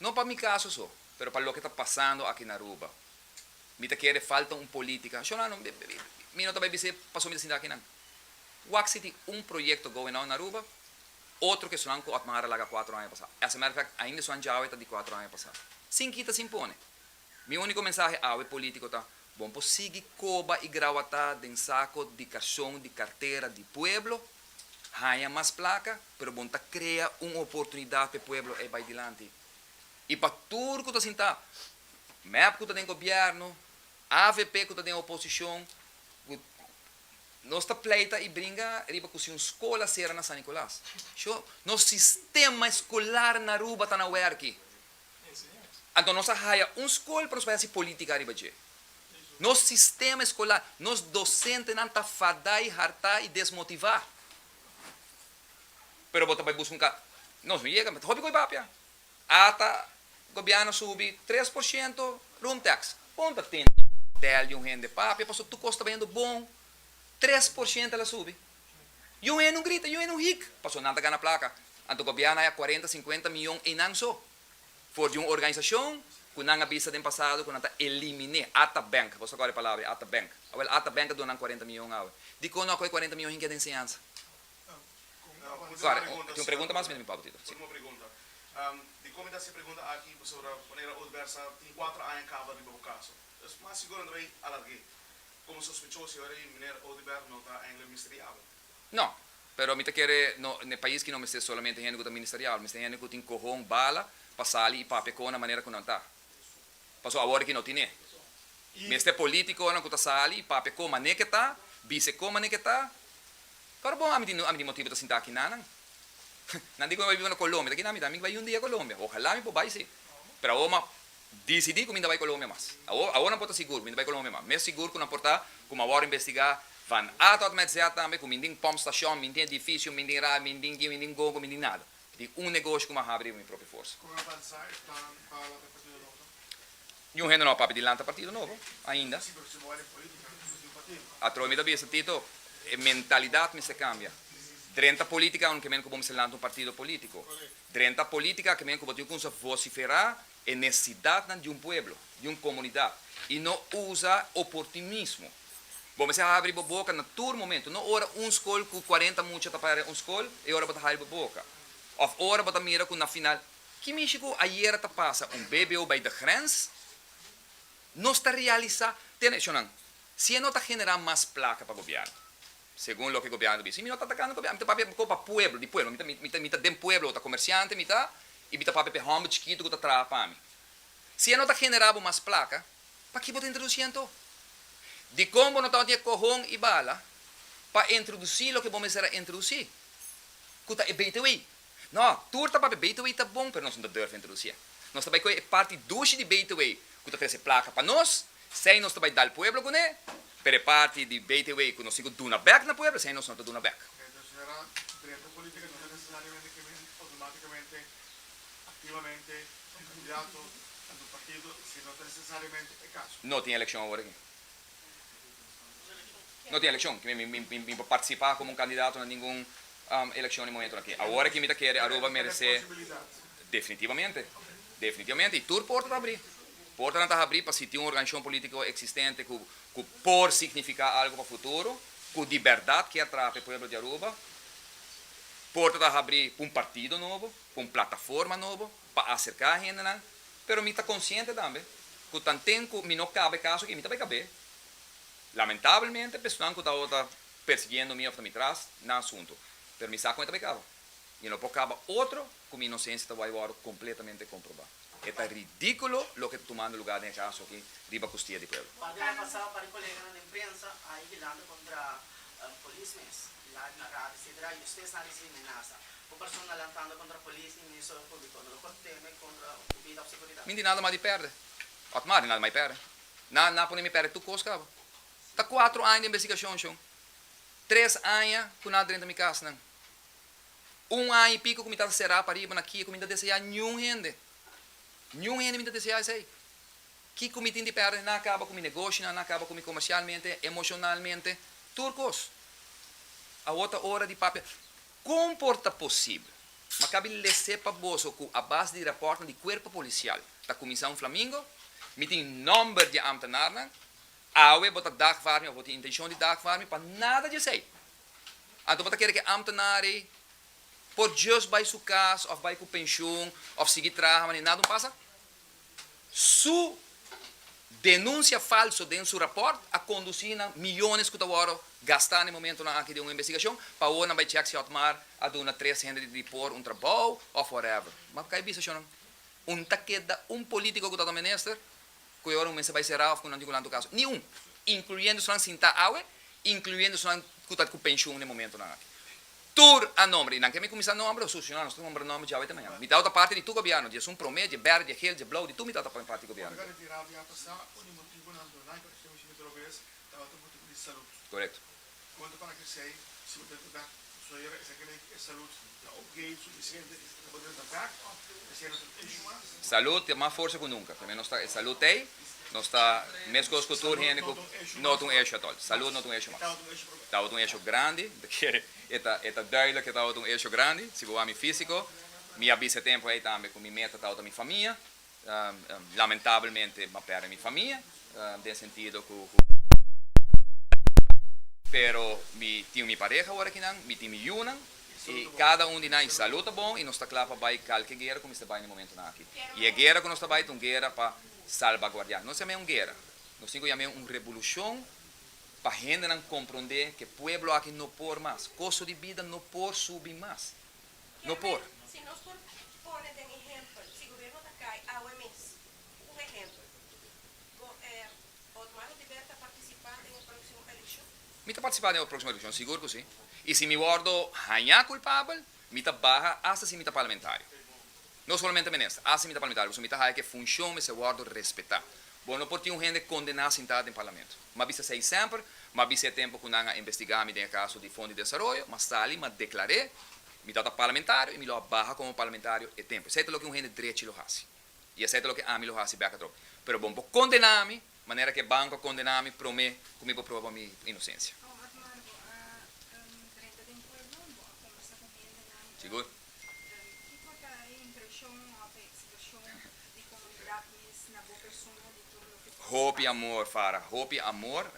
No pa mi caso so, pero pa loke ta pasando aki na Aruba. Mi ta kere falta un politica, Sholano, mi no ta bay bis'e paso mi ta sinta akinan. Wak si tin un proyecto going on na Aruba, otro ke esunanku Otmar a laga cuatro aña pasa. As a matter of fact, ainda esunan djawe ta di cuatro aña pasa. Sin kita sin pone. Mi único mensahe awe político ta, bon por sigui coba y grawatá den saco di cashon di cartera di pueblo, haña mas placa, pero bon ta crea un oportunidad p'e pueblo ey bay dilanti. Y pa tur cu ta sintá, mep cu ta den gobierno, avp cu ta den oposicion, cu nos ta pleita y bringa riba cu si un scol a cera na San Nicolas, sho, nos sistema escolar na Aruba ta na werki. Anto nos a haya un skol pa nos bai hasi politica riba dje. Nos sistema escolar, nos docentenan ta fada y harta y desmotiva. Pero bo ta bai busca un ca. Nos no yega, ta hopi con e papia. Ata gobierno subi tres por ciento room tax. Bon ta tin di un hotel di un hende papia pasobra tur cos ta bayendo bon. Tres por ciento el a subi. Yu hende un grita, yu hende un hik, pasobra nan ta gana plaka. Anto gobièrnu a ya kuarenta, sinkuenta mion einan so, for di un organisashon ku nan a bisa den pasado ku nan ta eliminé, ata bènk, boso a kòrda e palabra ata bènk. Awèl ata bènk a duna nan kuarenta mion awe. Dikon no a kòge kuarenta mion hin keda enseñansa? Kòrek, tin un pregunta mas mira mi Pablo Tito. Último pregunta. Dikon mi ta hasi e pregunta aki pasobra manera Old Versa tin kuater aña kaba riba bo kaso. Mas sigur nan ta bay alarg'é. Como sospechoso yo rey, Meneer Oduber no ta aingle misteriabel. No, pero mi ta kere no n'e pais ki no mester solamente hende cu ta ministeriabel, mester hende cu tin cohon, bala, pa sali y papia con nan manera cu nan ta. Paso awor aki no tin'e. Mester politiconan cu ta sali y papia con mane ke ta, bise con mane ke ta. Pero bon, ami tin ami tin motibu ta sinta aki na nan. Nan di cu mi bai biba na Colombia, ta kina mi ta? Mi ke bai un dia Colombia. Ojalá mi por bai si, pero awor ma. Disidí ku mi ta bai Colombia mas. Awor, awor nan por ta sigur ku mi ta bai Colombia mas. Mes sigur ku nan por ta ku mi awor investigá van A tòt mèt Z tambe ku mindin pòmp stashon, mindin edifisio, mindin radio, mindin gi, mindin gongo, mindin nada. Tin un negoshi ku mi a habri riba mi propio forsa. Kon a bansá e plan pa lanta e partido nobo? Niun hende no a papia di lanta partido nobo ainda. Sí, pero si bo bai den polítika bo tin un partido. Atrò mi ta bisa, Tito, e mentalidat mester kambia. Drenta polítika unu kier mene ku bo mester lanta un partido polítiko. Drenta politica ke men ku bo tin kumsa vociferá e necesidadnan di un pueblo, di un comunidad, i no usa oportunismo. Bo mester habri bo boca na tur momento, no ora un scol ku cuarenta mucha ta para un scol e ora bo ta habri bo boca, of ora bo ta mira ku na final. Ki mishi ku ayera ta pasa un bbo bai de grens, nos ta realisá, tene eshonan, si e no ta generá mas placa pa gobierno. Segun loke gobièrnu ta bisa, mi no ta atakando gobièrnu, mi ta papia bo pa pueblo, di pueblo, mi ta den pueblo, ta komersiante mi ta, i mi ta papia pa e hòmber chikitu ku ta traha pa mi. Si e no ta generá bo mas plaka, pakiko bo ta introdusí anto? Dikon bo no tabata den e kohon i bala pa introdusí loke bo mester a introdusí, ku ta e beite wei? No, tur ta papia Betaway ta bon pero nos no ta durf introducié. Nos ta bai coe e parti dushi di Betaway cu ta trece placa pa nos, sey nos ta bai dal pueblo cune, pero e parti di Betaway cu nos tin cu duna bek na pueblo sey nos no ta duna bek. Entonces ahora dreto politica no ta necesariamente ke men automaticamente, activamente, un candidato, un partido, sino ta necesariamente e caso. No tin eleccion awor aki. No tin elekshon ki mi por partisipá komo un kandidato na ningun elekshon di momentu aki. Awor aki mi ta kere Aruba meresé definitibamente, definitibamente, i tur porta ta habrí. Portanan ta habrí pa si tin un organishon polítiko eksistente ku por signifiká algu pa futuro, ku di bèrdat kier traha pa e pueblo di Aruba, porta ta habrí pa un partido nobo, pa un plataforma nobo. pa acerca hendenan, pero mi ta consciente tambe cu tanten cu mi no cabe caso aki, mi ta bay cabé. Lamentablemente, personan cu ta ora persiguiendo mi of ta mi tras, nan sunto. Pero mi sa con e ta bay caba. Mi lo por caba otro cu mi inocencia ta bay worde completamente comproba. E ta ridiculo loke ta tumando lugar den e caso aki riba custia di pueblo. Papia a pasa pa di coleganan den prensa a higilanta contra Polis mes. Laat na rata sidra y ustes na ricibi menasa. Bo persona lantando contra polis y Ministerio Publico no lo por teme contra bo bida of seguridad. Min di nada mas di perde. Ot mas di nada mas di perde. Nan a pone mi perde tur cos cabo. Ta cuatro aña di investigacion shon. Tres aña cu nan a drenta mi cas nan. Un aña y pico cu mi tata cera pariba na kia cu mi no ta desea niun hende. Niun hende mi no ta desea esey. Kiko mi tin di pèrdè? Nan a kaba ku mi negoshinan, nan a kaba ku mi komershialmente, emoshonalmente, tur kos. Awor ta ora di papia. Kon por ta posibel? Makabi lese pa boso ku a base di rapòrtnan di kuerpo polisial ta kuminsá un flamingo, mi tin nòmber di e ámtenarnan, awe bo ta dagvaar mi òf bo tin intenshon di dagvaar mi pa nada di esei. Anto bo ta kere ku e ámtenar ei por djus bai su kas òf bai ku penshun òf sigui traha wanneer nada un pasa? su denunsia falso den su raport a kondusí na miyones ku ta wòrdu gastá na e momentunan aki den un investigashon, pa awor nan bai chèk si Otmar a duna tres hende di Depor un trabou òf whatever. M'a kai bisa shonnan. Un ta keda un polítiko ku ta ta minister ku e ora un mester bai será òf ku nan tin ku lantu kaso? Ni un! Inkluyendo esnan sintá awe, inkluyendo esnan ku ta ku penshun na e momentunan aki. tur a nomber y nan ke mi cuminsa nomber lo succioná nos ta nomber nomber djawey te mañana mi tawata parti di tur gobierno dje azun prome dje berd dje geel dje blauw di tur mi tawata pone parti di gobierno correcto Salud te mas forsa cu nunca. Tambe nos ta e salud tey, nos ta mescos cu tur hende cu no ta un eshio atol. Salud no ta un eshio mas. Tabata un eshio grandi, bo ta kere e ta e ta duidelijk cu tabata un eshio grandi. Si bo wak mi fisico, mi a bisa e tempo ey tambe cu mi meta tabata mi famia. Lamentablemente m'a perde mi famia, den sentido cu mi tin un pero mi tin mi pareha ora aki nan, mi tin mi yunan y cada un di nan e salud ta bon y nos ta cla pa bay calke guera cu mester bay na e momentonan aki. Y e guera cu nos ta bay ta un guera pa salbaguardia. Nos yam'e un guera, nos tin cu yam'e un revolucion pa hendenan compronde cu e pueblo aki no por mas, costo di bida no por subi mas. No por. Si nos por pone den ehempel, si gobierno ta cay awe mes, un ehempel, go er Otmar Oduber ta participa den e proximo eleccion? Mi ta participa den e proximo eleccion, sigur cu si. Y si mi wordo haña culpabel, mi ta baha hasta si mi ta parlamentario. No solamente minister, asi mi ta parlamentario, pasobra mi ta haya cu e funcion mester wordo respeta. Bo no por tin un hende condena sinta den parlamento. Mi a bisa esey semper, mi a bisa e tempo cu nan a investiga mi den e caso di Fondo di Desaroyo, mi a sali, mi a declar'e, mi tabata parlamentario y mi lo a baha como parlamentario e tempo. Esey ta loke un hende drechi lo haci. Y esey ta loke ami lo haci bek atrò. Pero bo no por condena mi Manera cu e banco a condena mi prome cu mi por proba mi inocencia. Sigur. Hopi amor Farah, hopi amor.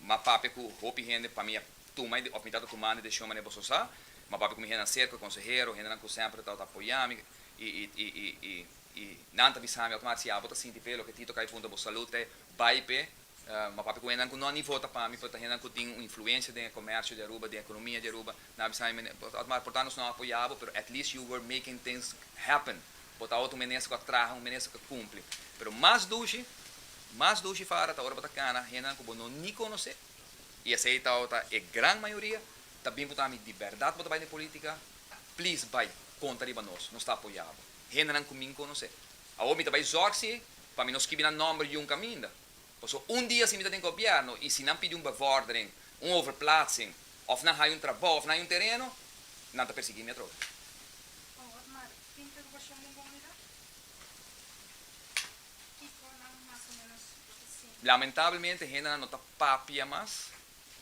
M'a papia cu hopi hende pa mi a tuma of mi ta ta tumando e decision manera boso sa. M'a papia cu mi hendenan cerca, consehero, hendenan cu semper a tabata apoya mi y, y, y, y. Y nan ta bisami automatic si abo ta sinti pe loke Tito Kay punta bo salud te bay pe ma papi ku hendan ku no ni vota pa mi pero ta hendan ku tin un influencia den e comercio di Aruba den economia di Aruba nan bisa mi mene automatic por tanto nos no apoya bo pero at least you were making things happen bo tabata un minister ku a traha un minister ku a cumpli pero mas dushi mas dushi fara ta ora bo ta cana hendan ku bo no ni conoce y esey tabata e gran mayoria ta bin punta mi di berdad bo ta bay den politica please bay conta riba nos nos ta apoya bo. hendenan ku mi N konosé. Awor mi ta bai zòg si pa mi no skibi nan nòmber yun kaminda. Paso un dia si mi ta den gobièrnu i si nan pidi un bevòrdering, un overplaatsing, òf nan haya un trabou òf nan haya un tereno, nan ta persigí mi atrobe. Awor mar interogashon den komunidat? Kiko nan mas o menos lo ta sinti? Lamentablemente hendenan no ta papia mas.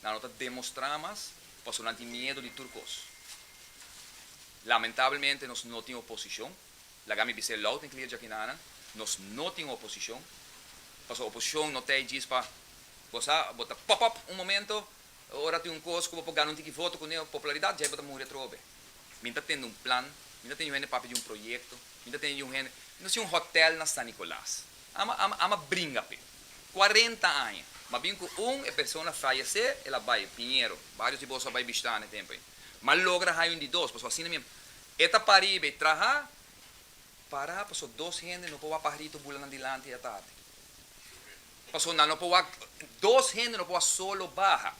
nan lo ta demostrá mas pasobra nan tin miedu di tur kos. Lamentablemente nos no tin oposishon, laga mi bis'é loud and clear djakinan nan, nos no tin oposishon, pasobra oposishon no ta ei djis pa, bo sa, bo ta pop up un momento, ora tin un kos ku bo por gana un tiki voto ku neo, popularidat, djai bo ta muri atrobe. Mi ta tende un plan, mi ta tende yu hende papia di un proyekto, mi ta tende yu hende, mi ta hasi un hòtèl na San Nikolas, ama, ama, ama bringa p'e. cuarenta aña. Mas bien cu un e persona fayece, el a bay, Piñero, varios di boso a bay bishita na e tempo ey. Mas a logra haya un di dos, pasobra asina mien e ta para riba ey traha, para pasobra dos hende no por wak paha riba tu bulanan dilanti e atardi. Pasobra nan no por wak, dos hende no por wak solo baha.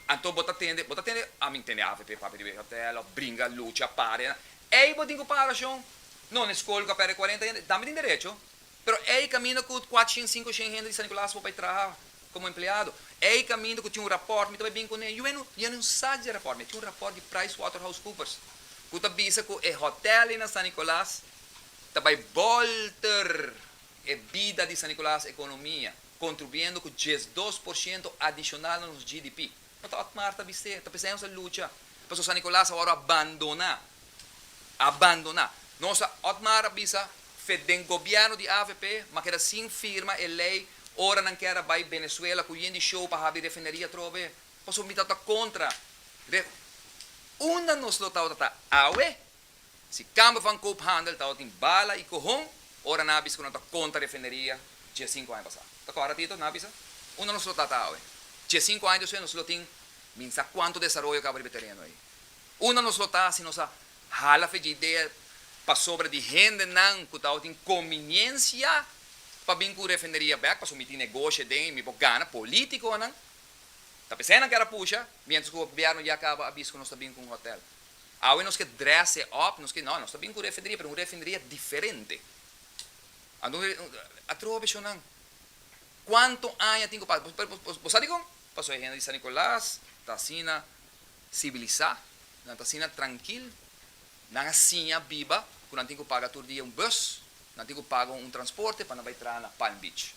Anto bo ta tende, bo ta tende, a mi tende avp, papia riba e hotel, of bringa, lucha, party na. Ey bo tin cu para rashon? No, na escol cu a perde cuarenta hende, dame tin derecho. Pero ey caminda cu cuater shen, cinco shen hende di San Nicolaas por bay traha como empleado. Ey caminda cu tin un rapport, mi ta bay bin cu ne, juey no, y'a no sa di e rapport, mi tin un rapport di Pricewaterhousecoopers cu ta bisa cu e hotel na San Nicolaas ta bay bolter e bida di San Nicolaas economia. contribuyendo cu diesdos por ciento adicional na nos GDP. No ta ot mar ta bist'é, ta p'esei nos a lucha. Pasobra San Nicolas awor a bandona, a bandona. Nos a ot mar a bisa fe den gobierno di avp, m'a keda sin firma e ley ora nan kier a bay Venezuela cu yen di show pa habri refineria atrobe. Pasobra mi tabata contra re. Unda nos lo tabata ta awe? Si kamber van koophandel tabata tin bala i kohon, ora nan a bisa ku nan ta kontra refineria dje sinku aña pasá. Ta kòrda Tito? Nan a bisa, Unda nos lo ta ta awe? Dje sinku aña despues nos lo tin min sa kuantu desaroyo kaba riba e tereno ei. Unda nos lo ta si nos a hala fe dje idea pasobra di hendenan ku tabatin konbiniensia pa bin ku refineria bèk pasobra mi tin negoshi den i mi por gana? Polítikonan ta p'esei nan kèra pusha miéntras ku gobièrnu ya kaba a bisa ku nos ta bin ku un hòtèl. Awe nos ke dresse up, nos ke, no, nos ta bin ku refineria, pero un refineria diferente. Anto, a troha beshonnan. Kuantu aña tin ku pasa? Bo, bo, bo, bo sa dikon? Pasobra e hende di San Nicolas ta asina sibilisá, nan ta asina trankil, nan a siña biba ku nan tin ku paga tur dia un bùs. Nan tin cu paga un transporte pa nan bay traha na Palm Beach.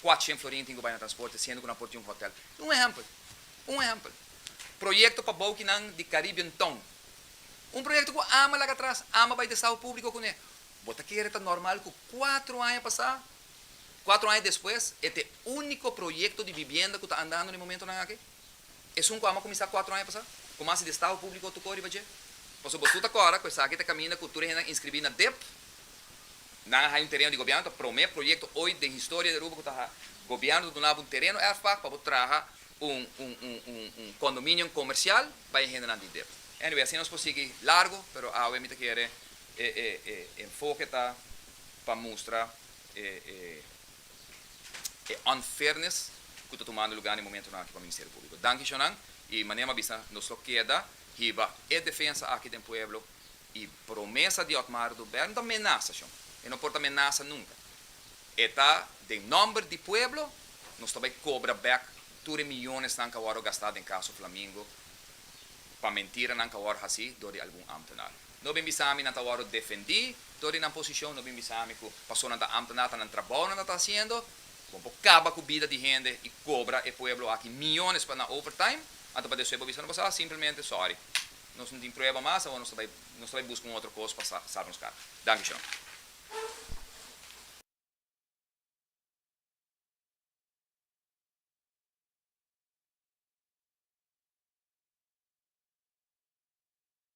Cuatshent florin tin cu bay na transporte siendo cu nan por tin un hotel. Tin un ehempel. Un ehempel. Proyecto pa bouki nan di Caribbean Town. Un proyecto cu Ama laga atras, Ama bay desao publico cune. Bo ta kere ta normal cu cuatro aña pasa, cuatro aña despues e ta e unico proyecto di bibienda cu ta andando na e momentonan aki? Esun ku ama kuminsá kuatro aña pasá, ku mas di estado públiko tokó riba dje. Pasobra boso ta kòrda ku esaki ta kaminda ku tur e hendenan inskribí na dep. Nan a haña un tereno di gobièrnu, ta promé proyekto oit den historia di Aruba ku ta gobièrnu ta duna bo un tereno erfpak pa bo traha un un kondominion komersial pa e hendenan di dep. Anyway, asina nos por sigui largu, pero awe mi ta kere e e e enfoke ta pa mustra e e. e unfairness cu ta tumando lugar na e momentonan aki pa Ministerio Publico. Danki Jonan y manera m'ha bisa nos lo keda hiba e defensa aki den pueblo y promesa di Otmar do Bert no ta menasa Jon, e no por ta menasa nunca, e ta den nomber di pueblo nos ta bay cobra back tur e millonesnan ca worde gasta den caso Flamingo pa mentiranan ca worde haci door di algun ambtenaar. No bin bisa mi nan ta wòrdu defendí dor di nan posishon, no bin bisa mi ku pasobra nan ta ámtenar ta nan trabou nan ta ta hasiendo, bon por kaba ku bida di hende i kobra e pueblo aki miónes pa nan overtime, anto pa despues bo bisa no bo sa, simplemente sòri, nos no tin prueba mas, awor nos ta bai nos ta bai buska un otro kos pa sa salba nos kara. Danki Shon.